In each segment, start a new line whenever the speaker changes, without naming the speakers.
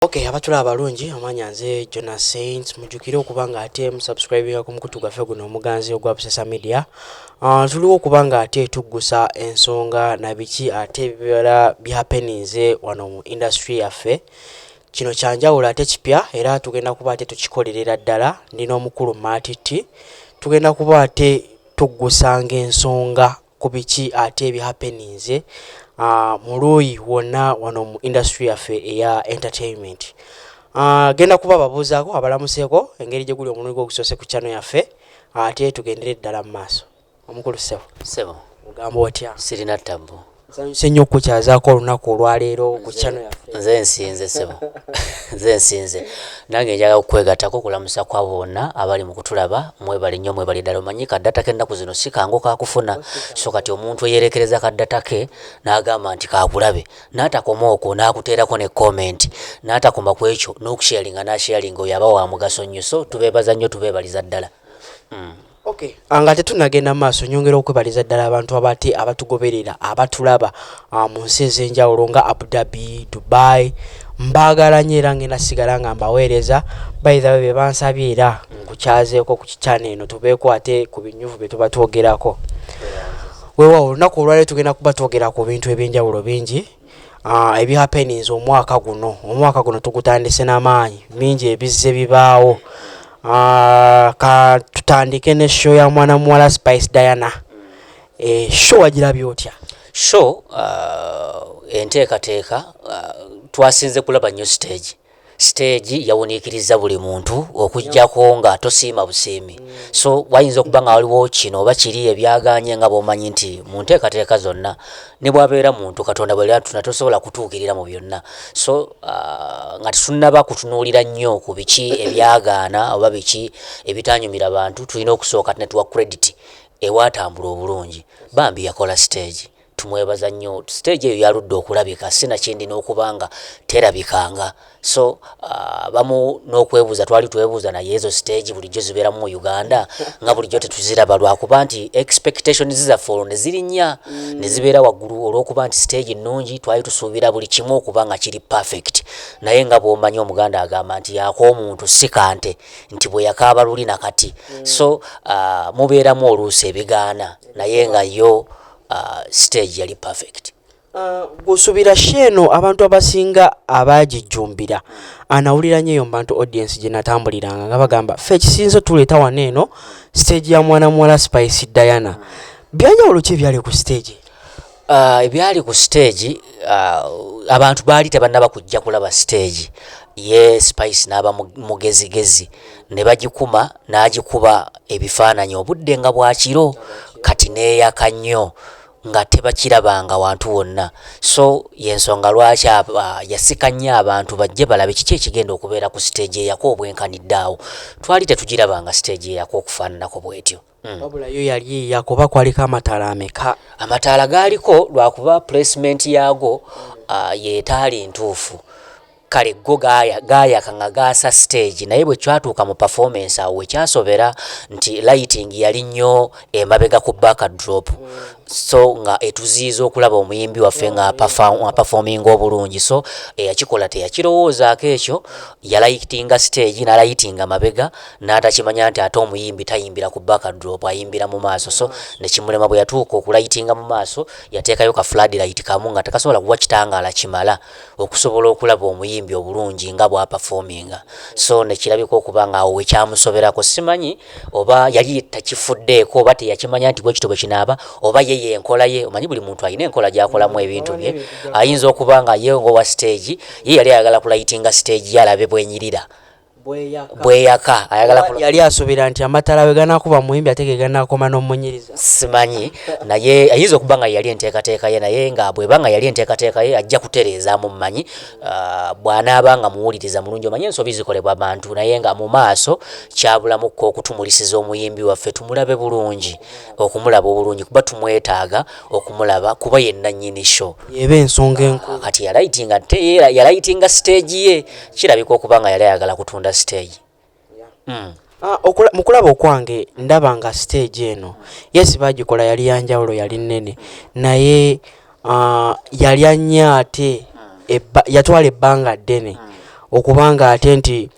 Okay, abatula abalungi amanya nze Jona Saint mujukire okuba nga ate musubscribinga ku mukutu gwaffe guno omuganzi ogwa Busesa Media. Uh, tuliwo okuba nga ate tuggusa ensonga na biki ate bibala byapeninze wano mu industry yaffe. Kino kyanjawulo ate kipya era tugenda kuba ate tukikolerera ddala ndi n'omukulu Maatitti. Tugenda kuba ate tuggusanga ensonga ku biki ate ebi happeninze mu luuyi wonna wano mu industry yaffe eya entertainment. Genda kuba babuuzaako abalamuseko engeri gye guli omulundi gwo ogusoose ku channel yaffe ate tugendere ddala mu maaso. Omukulu ssebo. Ssebo. Ogamba otya? Sirina ttabbu.
Nsanyuse nnyo
okukukyazaako olunaku olwaleero ku channel yaffe. Nze nsinze ssebo.
Nze nsinze. Nange njagala okukwegatako okulamusa kwabo bonna abali mukutulaba mwebale nyo mwebale dala omanyi ka data ke naku zino sikangu kakufuna so kati omuntu eyerekereza ka data ke nagamba nti kakulabe natakoma okwo nakuterako ne comment natakoma kwekyo nokusharinga nasharinga oyo aba wamugaso nyo so tubebaza nyo tubebaliza dala mm.
Okay. Ah, nga tetunagenda mu maaso nyongera okwebaliza ddala abantu abati abatugoberera abatulaba ah, mu nsi ez'enjawulo nga Abu Dhabi, Dubai mbaagala nnyo era ngenda sigala nga mbaweereza bayithawe be bansabye era nkukyazeeko ku kikyana eno tubeeko ate ku binyuvu bye tuba twogerako weewaawo olunaku olwaliro tugenda kuba twogera ku bintu eby'enjawulo bingi Ah, ebyapeninze omwaka guno omwaka guno tugutandise n'amaanyi mingi ebizze bibaawo ah, ka tutandike ne show ya mwana muwala spice diana eh, show wagirabye otya show
ah, enteekateeka twasinze kulaba new stage Siteegi yawuniikirizza buli muntu okuggyako nga tosiima busiimi. So wayinza okuba nga waliwo kino oba kiri ebyagaanye nga bw'omanyi nti mu nteekateeka zonna ne bw'abeera muntu Katonda bwe yatuna tosobola kutuukirira mu byonna. So ah, nga tetunnaba kutunuulira nnyo ku biki ebyagaana oba biki ebitaanyumira bantu tulina okusooka ne tuwa credit ewaatambula obulungi. Bambi yakola siteegi. tumwebaza nnyo stage eyo yaludde okulabika sinakindi n'okubanga terabikanga so uh, bamu n'okwebuuza twali twebuuza naye ezo stage bulijjo zibeeramu mu uganda nga bulijjo tetuziraba lwakuba nti expectations zaffe olwo nezirinnya mm. nezibeera waggulu olw'okuba nti stage nnungi twali tusuubira buli kimu okuba nga kiri perfect naye nga bw'omanyi omuganda agamba nti yaako omuntu si kante nti bwe yakaaba luli na kati mm. so uh, mubeeramu oluusi ebigaana naye nga yo uh, stage yali perfect uh, gusubira
sheeno abantu abasinga abagijjumbira anawulira nyo eyo mubantu audience gyenatambuliranga nga bagamba fe ekisinzo tuleeta wano eno stage ya mwana muwala spice diana byanjawulo ki ebyali ku stage uh, ebyali
ku stage uh, abantu baali tebanaba kujja kulaba stage ye spice n'aba mugezigezi ne bagikuma n'agikuba ebifaananyi obudde nga bwa kiro kati n'eyaka nnyo nga tebakirabanga wantu wonna so y'ensonga lwaki yasika nnyo abantu bajje balabe kiki ekigenda okubeera ku siteegi eyako obwenkanidde awo twali tetugirabanga siteegi eyako okufaananako bwetyo hmm. wabula yo yali
eyako oba kwaliko amataala ameka amataala gaaliko
lwakuba placement yaago ah, yetaali ntuufu kale go gaaya gaayaka nga gaasa stage naye bwe kyatuuka mu performance awo wekyasobera nti lighting yali nnyo emabega ku back drop so nga etuziiza okulaba omuyimbi waffe nga performing obulungi so eyakikola teyakirowoozaako ekyo yalayitinga stage nalayitinga mabega n'atakimanya nti ate omuyimbi tayimbira ku back drop ayimbira mu maaso so nekimulema bwe yatuuka okulayitinga mu maaso yateekayo ka flood light kamu nga tekasobola kuwa kitangaala kimala okusobola okulaba omuyimbi obulungi nga bw'apafoominga so ne kirabika okuba ng'awo we kyamusoberako simanyi oba yali takifuddeeko oba teyakimanya nti bwe kityo bwe kinaaba oba ye y'enkola ye omanyi buli muntu alina enkola gy'akolamu mm, ebintu bye ayinza okuba nga ye ng'owa siteegi ye yali ayagala kulayitinga siteegi ye alabe bwenyirira bweyaka yali
asuubira nti amatala we ganakuba muyimbi ate geganakoma nomunyiriza simanyi
naye ayinza okuba nga yali enteekateeka ye naye nga bweba nga yali enteekateeka ye ajja kutereezaamu mumanyi ah, bwanaaba nga muwuliriza mulungi omanyi ensobi zikolebwa bantu naye nga mu maaso kyabulamukko okutumulisiza omuyimbi waffe tumulabe bulungi okumulaba obulungi kuba tumwetaaga okumulaba kuba ye nnannyini show eba ensonga enkulu
kati yalayitinga ate
yalayitinga siteegi ye kirabika okuba nga yali ayagala kutunda siteegi hmm. ah, mu
kulaba okwange ndaba nga siteegi eno yesi bagikola yali yanjawulo yali nnene naye ah, yali annya ate yatwala ebbanga ddene hmm. okubanga ate nti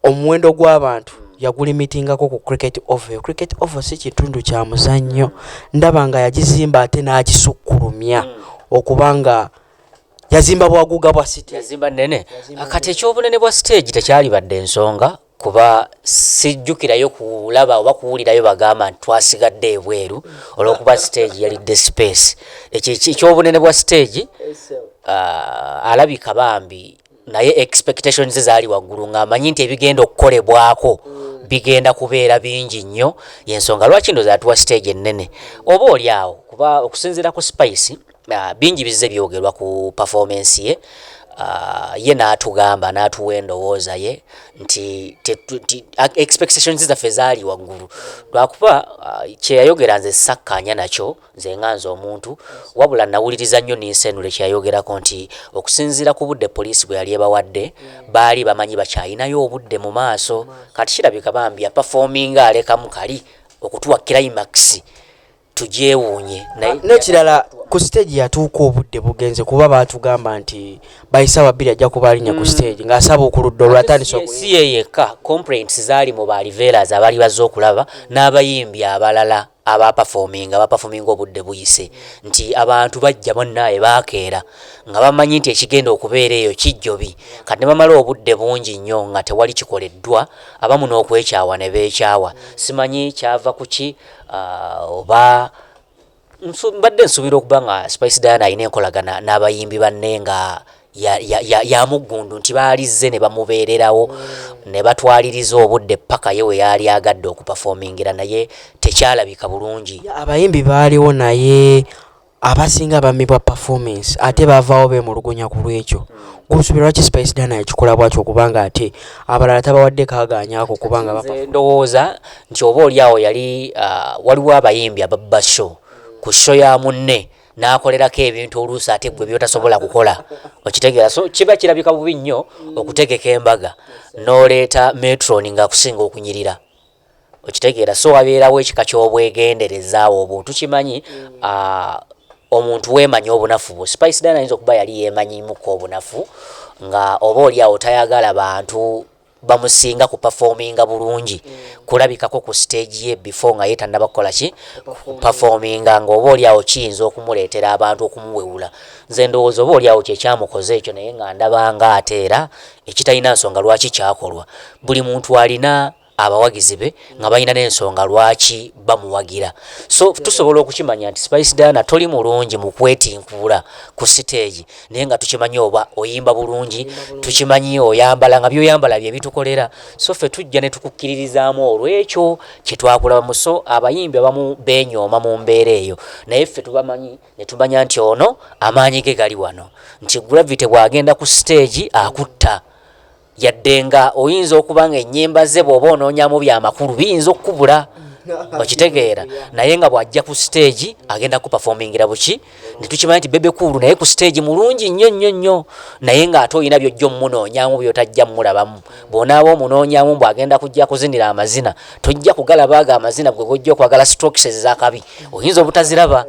omuwendo gw'abantu yagulimitingako ku cricket oval cricket oval si kitundu kya muzannyo ndaba nga yagizimba ate n'agisukkulumya hmm. okuba nga yazimba bwaguga bwa city yazimba nene
kati ekyobunene bwa stage tekyali badde ensonga kuba sijjukirayo kulaba oba kuwulirayo bagamba nti twasigadde ebweru olwokuba stage yalidde space ekyo ekyobunene bwa stage uh, alabika bambi naye expectations ze zaali waggulu ng'amanyi nti ebigenda okukolebwako mm. bigenda kubeera bingi nnyo yensonga lwaki ndoza atuwa stage ennene oba oli awo kuba okusinziira ku spice uh, bingi bizze byogerwa ku performance ye uh, ye n'atugamba n'atuwa endowooza ye nti expectations zaffe zaali waggulu lwakuba uh, kyeyayogera nze sakkaanya nakyo Nze nga nze omuntu, wabula nnawuliriza nnyo Ninsenure kye yayogerako nti okusinziira ku budde poliisi bwe yali ebawadde, baali bamanyi bakyalinayo obudde mu maaso. Kati kirabika bambi yapafoominga alekamu kali okutuwa climax tugyewuunye naye. N'ekirala
ku siteegi yatuuka obudde bugenze kuba baatugamba nti by ssaawa bbiri ajja kuba alinnya ku siteegi mm. ng'asaba ku ludda olwatandise oku. Si ye yekka,
complaints zaali mu ba Riveras abaali bazze okulaba n'abayimbi abalala. abapafoominga bapafoominga obudde buyise nti abantu bajja bannaaye baakeera nga bamanyi nti ekigenda okubeera eyo kijjobi kati ne bamala obudde bungi nnyo nga tewali kikoleddwa abamu n'okwekyawa ne beekyawa simanyi kyava ku ki uh, oba mbadde nsuubira okuba nga Spice Diana alina enkolagana n'abayimbi banne nga ya- ya- ya- ya muggundu nti baalizze ne bamubeererawo ne batwaliriza obudde paka ye we yaali agadde okupafomingira naye tekyalabika bulungi abayimbi baaliwo
naye abasinga bamibwa performance ate bavaawo bemulugunya ku lwekyo gwosuubira lwaki spice dana yakikola bwatyo okubanga ate abalala tabawadde kagaanyako kubanga bapa- Nze ndowooza
nti oba oli awo yali ah, waliwo abayimbi ababba show ku show ya munne n'akolerako ebintu oluusi ate gwe byotasobola kukola okitegeera so kiba kirabika bubi nnyo okutegeka embaga n'oleeta metron ng'akusinga okunyirira okitegeera so wabeerawo ekika ky'obwegenderezaawo obwo tukimanyi omuntu weemanyi obunafu bwo spice dana ayinza okuba yali yeemanyimuko obunafu nga oba oli awo tayagala bantu bamusinga ku performinga bulungi kulabikako ku stage ye before nga yetanaba kukola ki performinga nga oba olyawo kiyinza okumuleetera abantu okumuwewula nze ndowooza oba olyawo kyekyamukoze ekyo naye nga ndabanga ate era ekitalina nsonga lwaki kyakolwa buli muntu alina abawagizi be nga balina n'ensonga lwaki bamuwagira so tusobola okukimanya nti spice dana toli mulungi mu kwetinkuula ku siteegi naye nga tukimanyi oba oyimba bulungi tukimanyi oyambala nga byoyambala bye bitukolera so ffe tujja ne tukukkiririzaamu olw'ekyo kye twakulabamu so abayimbi abamu beenyooma mu mbeera eyo naye ffe tubamanyi ne tumanya nti ono amaanyi ge gali wano nti gravity bw'agenda ku siteegi akutta Yadde nga oyinza okuba nga ennyimba ze bw'oba onoonyamu bya makulu biyinza okukubula okitegeera naye nga bw'ajja ku siteegi agenda kupafomingira buki ne tukimanya nti bebe kuulu naye ku siteegi mulungi nnyo nnyo nnyo naye ng'ate olina by'ojja omunoonyamu by'otajja mmulabamu bw'onaaba omunoonyamu mbw'agenda kujja kuzinira amazina tojja kugalaba ago amazina gwe gojja okwagala strokes ezakabi oyinza obutaziraba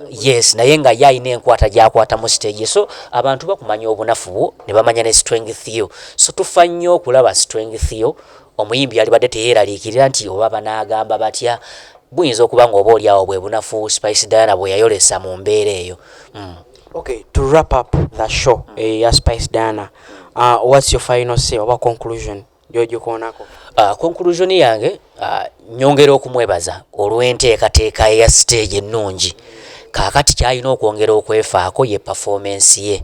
yes naye nga ye alina enkwata gyakwata mu stage so abantu bakumanya obunafu bwo ne bamanya ne strength yo so tufa nnyo okulaba strength yo omuyimbi yalibadde teyeeraliikirira nti oba banaagamba batya buyinza okuba nga oba olyawo bwe bunafu spice diana bwe yayolesa mu mbeera eyo mm. okay
to wrap up the show mm. uh, ya spice diana uh, what's your final say oba conclusion gyogikoonako ah, conclusion
yange ah, nyongera okumwebaza olw'enteekateeka eya siteegi ennungi kaakati kyalina okwongera okwefaako ye pafoomensi ye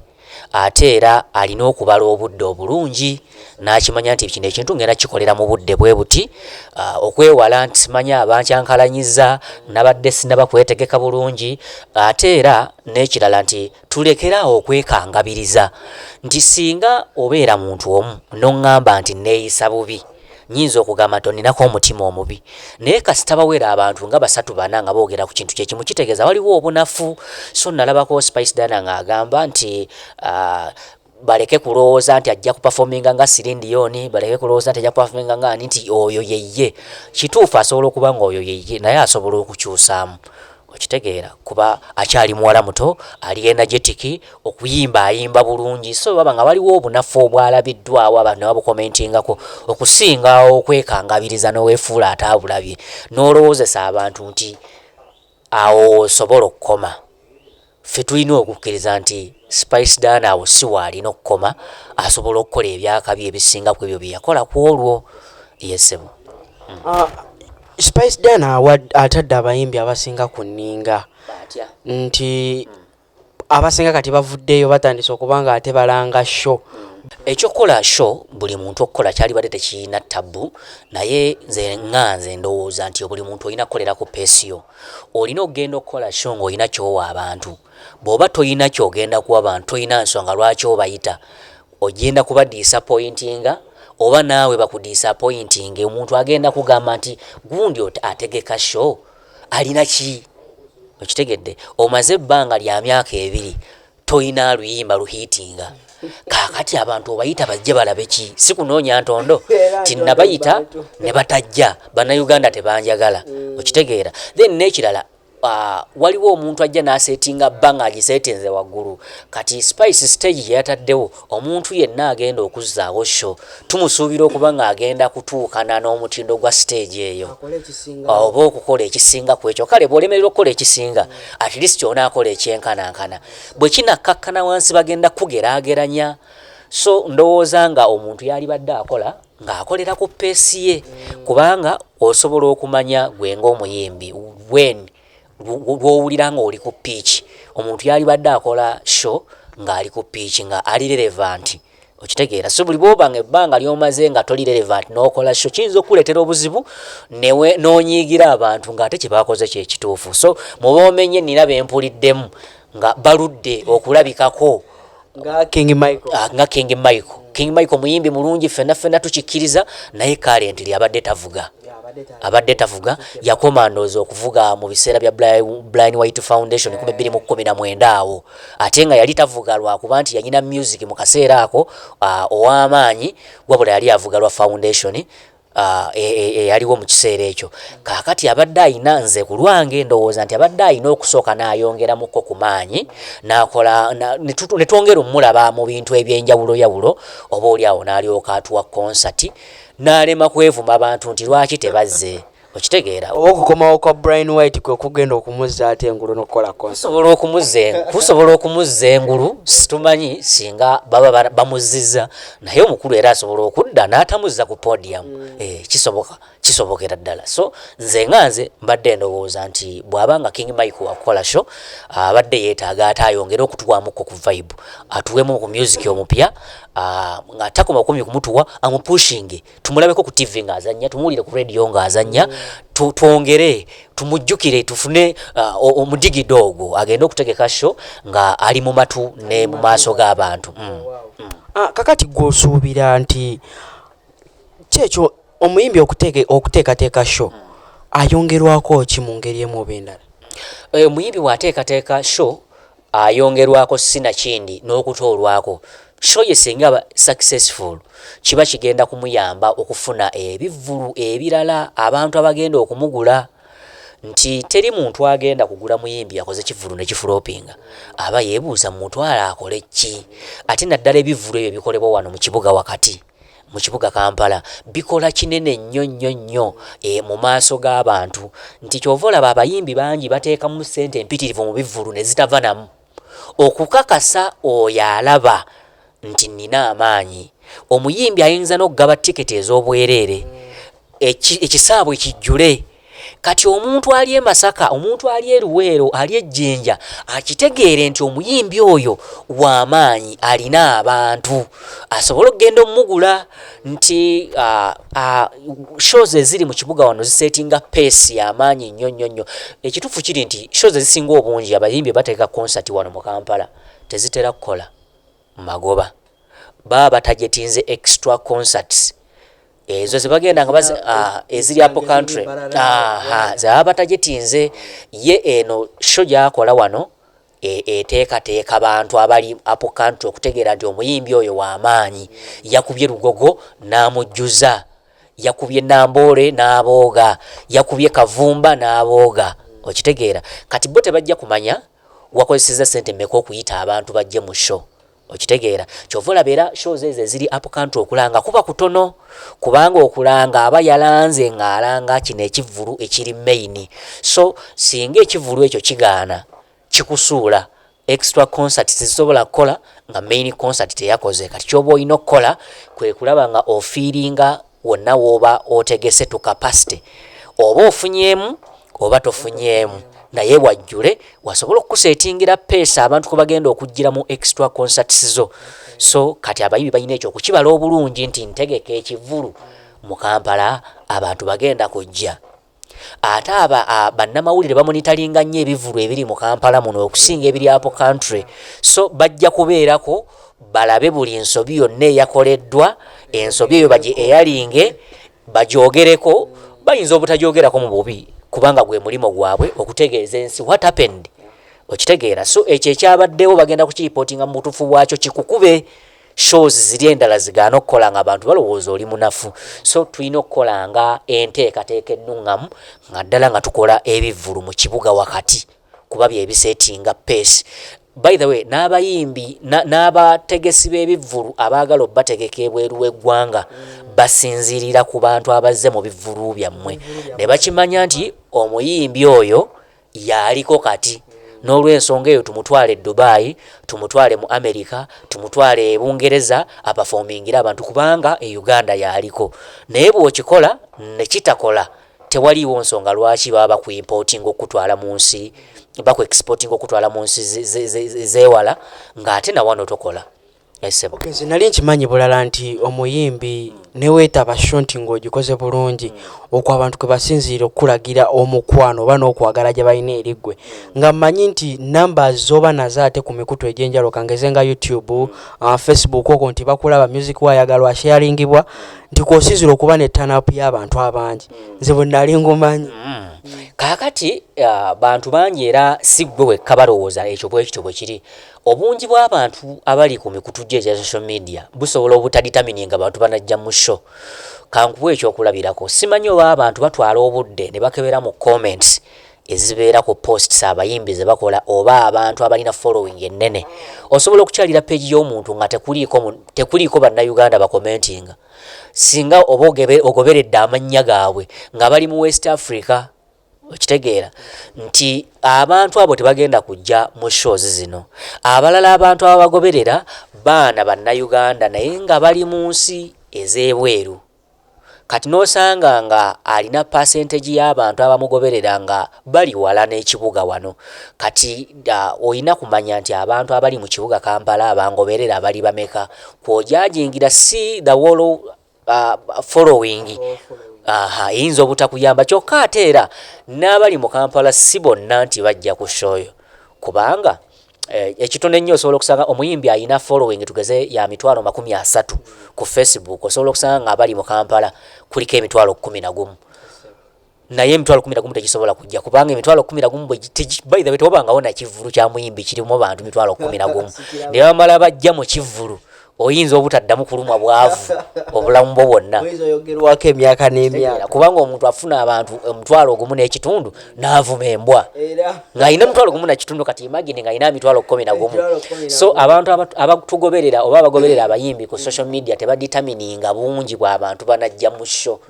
ate era alina okubala obudde obulungi n'akimanya nti kino ekintu ngenda kikolera mu budde bwe buti ah, okwewala nti simanyi abankyankalanyiza nabadde sinaba kwetegeka bulungi ate era n'ekirala nti Tulekere awo okwekangabiriza nti singa obeera muntu omu n'oŋŋamba nti nneeyisa bubi, nnyinza okugamba nti onninako omutima omubi. Naye kasita bawera abantu nga basatu bana nga boogera ku kintu kye kimu, kitegeeza waliwo obunafu. So nnalabako Spice Diana ng'agamba nti, uh, baleke kulowooza nti ajja kupafominga nga sirindi yoni baleke kulowooza nti ajja kupafominga nga ani nti oyo yeye kituufu asobola okuba nga oyo yeye naye asobola okukyusaamu okitegeera kuba akyali muwala muto ali energetic okuyimba ayimba bulungi so baba nga waliwo obunafu obwalabiddwawo abantu nebabukomentingako okusinga okwekangabiriza nowefuula ataabulabye nolowoozesa abantu nti awo osobola okukoma Ffe tulina okukkiriza nti Spice Diana awo si w'alina okukoma, asobola okukola eby'akabi ebisinga ku ebyo bye yakola ku olwo. Yee, ssebo.
Spice Diana atadde abayimbi abasinga ku nninga nti abasinga kati bavuddeyo batandise okuba ng'ate balanga show. Eky'okukola
show buli muntu okukola kyalibadde tekirina ttabbu naye nze nga nze ndowooza nti buli muntu olina kukolera ku peesi yo. Olina okugenda okukola show ng'olina ky'owa abantu. Bw'oba tolina ky'ogenda kuwa bantu tolina nsonga lwaki obayita. Ogenda kubadiisapoyintinga oba naawe bakudiisapoyintinge. Omuntu agenda kugamba nti gundi ategeka show alina ki? Okitegedde? Omaze ebbanga lya myaka ebiri toyina luyimba luhiitinga kakati abantu obayita bajje balabe ki si kunoonya ntondo tinabayita ne batajja bannayuganda tebanjagala mm. okitegeera then n'ekirala Uh, waliwo omuntu ajja n'asetinga bba ng'agiseetinze waggulu kati spice stage gye yataddewo Omuntu yenna agenda okuzzaawo show tumusuubira okuba ng'agenda kutuukana n'omutindo gwa siteegi eyo oba okukola ekisinga ku ekyo. Kale bw'olemererwa okukola ekisinga, at least onaakola ekyenkanankana. Bwe kinakkakkana wansi bagenda kukugeraageranya. So ndowooza nga omuntu yalibadde akola ng'akolera ku peesi ye kubanga osobola okumanya gwe ng'omuyimbi when lw'owulira ng'oli ku ppiiki omuntu yalibadde akola sho ng'ali ku ppiiki nga ali relevanti okitegeera so buli bwoba nga ebbanga lyomaze nga toli relevant nokola sho kiyinza okukuleetera obuzibu newe nonyiigira abantu ng'ate kyebakoze kyekituufu so muba omenye nina bempuliddemu nga baludde okulabikako nga King
Michael ah, nga King Michael King Michael
muyimbi mulungi fena fena tukikiriza naye kale ntili abadde tavuga abadde tavuga yakoma ndozo okuvuga mu biseera bya Blind White Foundation yeah. 2019 awo ate nga yali tavuga lwa kuba nti yanyina music mu kaseera ako uh, ow'amaanyi wabula yali avuga lwa foundation Ah, e, e, eyaliwo mu kiseera ekyo kaakati abadde ayina nze ku lwange ndowooza nti abadde ayina okusooka n'ayongeramuko ku maanyi n'akola ne twongera omulaba mu bintu eby'enjawulo yawulo oba oli awo n'alyoka atuwa konsati n'alema kwevuma bantu nti lwaki tebazze okitegeera oba okukomawo kwa
brian white kwe kugenda okumuzza ate engulu nokukolakusobola
okumuzza engulu situmanyi singa baba bamuzziza naye omukulu era asobola okudda n'atamuzza ku podium mm. eh, kisoboka kisobokera ddala so nze nga nze mbadde ndowooza nti bw'aba nga king mike wakukola sho abadde yeetaaga ate ayongere okutuwamukko ku vibe atuwemu ku music omupya nga takoma kumi kumutuwa amupushinge tumulabeko ku tv ng'azannya tumuwulire ku radio ng'azannya twongere tumujjukire tufune uh, omudigido ogwo agende okutegeka sho nga ali mu matu ne mu maaso g'abantu mm. mm. ah,
kakati gwosuubira nti kyekyo omuyimbi okuteekateeka sho mm. ayongerwako ki mu ngeri emu oba endala eh, omuyimbi
bw'ateekateeka sho ayongerwako sinakindi n'okutoolwako show ye singa aba successful kiba kigenda kumuyamba okufuna ebivvulu ebirala abantu abagenda okumugula nti teri muntu agenda kugula muyimbi akoze kivvulu ne kifulopinga aba yeebuuza mumutwala akole ki ate naddala ebivvulu ebyo ebikolebwa wano mu kibuga wakati mu kibuga Kampala bikola kinene nnyo nnyo nnyo e, mu maaso g'abantu nti kyova olaba abayimbi bangi bateekamu ssente empitirivu mu bivvulu ne zitava namu okukakasa oyo alaba nti nnina amaanyi. Omuyimbi ayinza n'okugaba tiketi ez'obwereere ekisaabwe kijjule. Kati omuntu ali e Masaka, omuntu ali e Luweero, ali e Jinja akitegeere nti omuyimbi oyo wa maanyi alina abantu asobole okugenda omugula nti uh, uh, shows eziri mu kibuga wano zisetinga peesi ya maanyi nnyo nnyo nnyo. Ekituufu kiri nti shows ezisinga obungi abayimbi bateeka konsati wano mu Kampala tezitera kukola. magoba baba batajetinze extra concerts ezo zebagenda nga bazi ah, eziri apo country zebaba batajetinze ye eno sho gyakola wano e, eteekateeka bantu abali apo country okutegeera nti omuyimbi oyo wamaanyi yakubye lugogo n'amujjuza yakubye namboole n'abooga yakubye kavumba n'abooga okitegeera kati bo tebajja kumanya Wakozeseza sente meka okuyita abantu bajje mu show okitegeera kyova olaba era show zo ezo eziri up country okulanga kuba kutono kubanga okulanga aba yalanze nga alanga kino ekivulu ekiri main so singa ekivulu ekyo kigaana kikusuula extra concert tezisobola kukola nga main concert teyakoze kati kyoba olina okukola kwekulaba nga ofiiringa Wonna wooba otegese to capacity oba ofunyeemu oba tofunyeemu naye wajjule wasobola okukuseetingira peesa abantu kwe bagenda okujjira mu extra concerts zo so kati abayibi balina ekyo okukibala obulungi nti ntegeka ekivulu mu kampala abantu bagenda kujja Ate aba a bannamawulire bamonitalinga nnyo ebivulu ebiri mu Kampala muno okusinga ebiri Apple Country so bajja kubeerako balabe buli nsobi yonna eyakoleddwa ensobi eyo bagi eyalinge bagyogereko bayinza obutajyogerako mu bubi kubanga gwe mulimo gwabwe okutegeeza ensi what happened okitegeera so ekyo ekyabaddewo bagenda kukiripootinga mu butuufu bwakyo kikukube shows ziri endala zigaana okukola nga abantu balowooza oli munafu so tulina okukola nga enteekateeka ennuŋŋamu nga ddala nga tukola ebivvulu mu kibuga wakati kuba byebisetinga peesi by the way n'abayimbi n'abategesi b'ebivvulu abaagala obategeka ebweru w'eggwanga basinziirira ku bantu abazze mu bivvulu byammwe ne bakimanya nti omuyimbi oyo y'aliko kati n'olwensonga eyo tumutwale e Dubai, tumutwale mu America, tumutwale e Bungereza apafoomingire abantu kubanga e Uganda y'aliko. Naye bw'okikola ne kitakola tewaliiwo nsonga lwaki baba bakuimpootinga okukutwala mu nsi bakuexpootinga okukutwala mu nsi z'ewala ng'ate na wano tokola. esebo eh, nze
nali nkimanyi bulala nti omuyimbi newetaba shonti ng'ogikoze bulungi okwo abantu kwe basinziira okukulagira omukwano oba n'okwagala gye balina eri ggwe nga mmanyi nti namba z'oba nazo ate ku mikutu egy'enjalo kangeze nga youtube uh, facebook okwo nti bakulaba music wayagalwa sharingibwa nti kwosinziira okuba ne tanapu y'abantu abangi nze bwe nali ngumanyi mm. kaakati
uh, bantu bangi era si ggwe wekka balowooza ekyo bwekityo bwe kiri Obungi bw'abantu abali ku mikutu gyo egya social media busobola obutaditamininga bantu banajja mu show. Kankuwe eky'okulabirako, simanyi oba abantu batwala obudde ne bakebera mu comments ezibeera ku posts abayimbi ze bakola oba abantu abalina following ennene. Osobola okukyalira page y'omuntu nga tekuliiko tekuliiko Bannayuganda bakomentinga singa oba ogoberedde amannya gaabwe nga bali mu West Africa. Okitegeera nti abantu abo tebagenda kujja mu shows zino. Abalala abantu ababagoberera baana Bannayuganda naye nga bali mu nsi ez'ebweru. Kati n'osanga nga alina percentage y'abantu abamugoberera nga bali wala n'ekibuga wano. Kati olina kumanya nti abantu abali mu kibuga Kampala abangoberera bali bameka? Kw'ojaajingira si the whole uh, following aha eyinza obutakuyamba kyokka ate era n'abali mu kampala si bonna nti bajja ku shoyo kubanga eh, ekitono ennyo osobola okusanga omuyimbi alina following tugeze ya mitwalo makumi asatu ku facebook osobola okusanga nga abali mu kampala kuliko emitwalo kumi na gumu naye emitwalo kumi nagumu tegisobola kujja kubanga emitwalo kumi nagumu bwebaihe tewabangawo nakivulu kyamuyimbi kirimu bantu mitwalo kumi nagumu ne bamala bajja mu kivulu oyinza obutaddamu kulumwa bwavu obulamu bwo bwonna oyogerwako emyaka
n'emyaka kubanga omuntu afuna
abantu omutwalo ogumu n'ekitundu n'avuma embwa ng'alina omutwalo gumu nakitundu kati imagine ng'alina emitwalo kumi nagumu so abantu abatugoberera oba abagoberera abayimbi ku social media tebaditamininga bungi bw'abantu banajja mu sho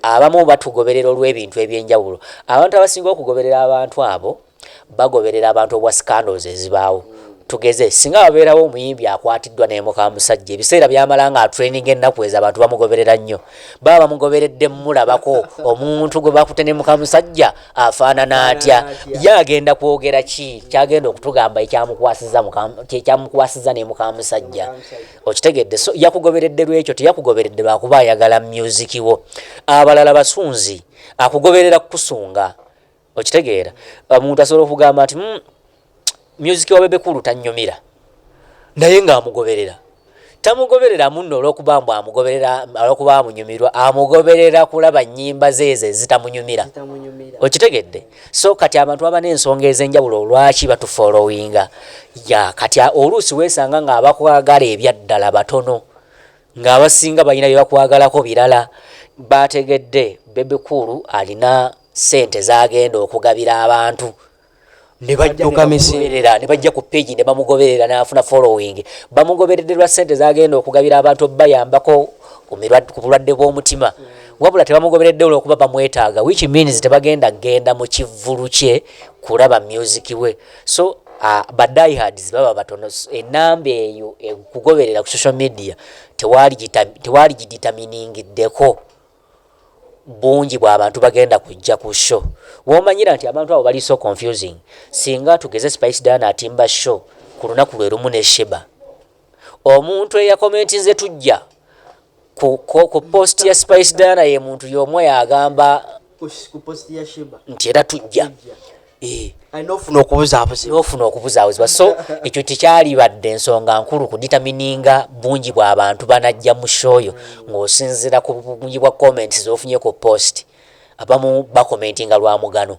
abamu batugoberera olw'ebintu eby'enjawulo abantu abasinga okugoberera abantu abo bagoberera abantu obwa scandals ezibaawo tugeze singa wabeerawo omuyimbi akwatiddwa naye muka musajja ebiseera byamala nga atraining ennaku ezo abantu bamugoberera nnyo baba bamugoberedde mulabako omuntu gwe bakute ne muka musajja afaanana atya ye agenda kwogera ki kyagenda okutugamba ekyamukwasiza ne muka musajja okitegedde so yakugoberedde lwekyo teyakugoberedde lwakuba ayagala myuziki wo abalala basunzi akugoberera kukusunga okitegeera omuntu asobola okugamba nti hmm, myuziki wa bebekulu tanyumira naye ngaamugoberera tamugoberera munno olwokuba mbu amugoberera olwokuba amunyumirwa amugoberera kulaba nyimba zeezo ezitamunyumira okitegedde so kati abantu baba n'ensonga ez'enjawulo olwaki batufolowinga ya kati oluusi weesanga ng'abakwagala ebyaddala batono ng'abasinga balina bye bakwagalako birala baategedde bebikuulu alina ssente z'agenda okugabira abantu
nebajjaera ne bajja
ku peegi ne bamugoberera n'afuna following bamugoberedde lwa ssente z'agenda okugabira abantu bayambako ku bulwadde bw'omutima mm. wabula tebamugoberedde olwokuba bamwetaaga which means tebagenda genda mu kivvulu kye kulaba music we so uh, badihards baba batono enamba eyo ekugoberera ku social media tewaali giditaminingiddeko bungi bwabantu bagenda kujja ku show womanyira nti abantu abo bali so confusing singa tugeze spice dana atimba show ku lunaku lwe lumu ne sheba omuntu eyakomentinze tujja ku, ku, ku post ya spice dana ye muntu yomu yagamba
nti era tujja
eh.
nofuna
okubuzabuzibwa so ekyo tekyalibadde ensonga nkulu ku ditamininga bungi bwabantu banajja mu shoyo mm. ngaosinzira ku bungi bwa comments zofunye ku post abamu bakomentinga lwa mugano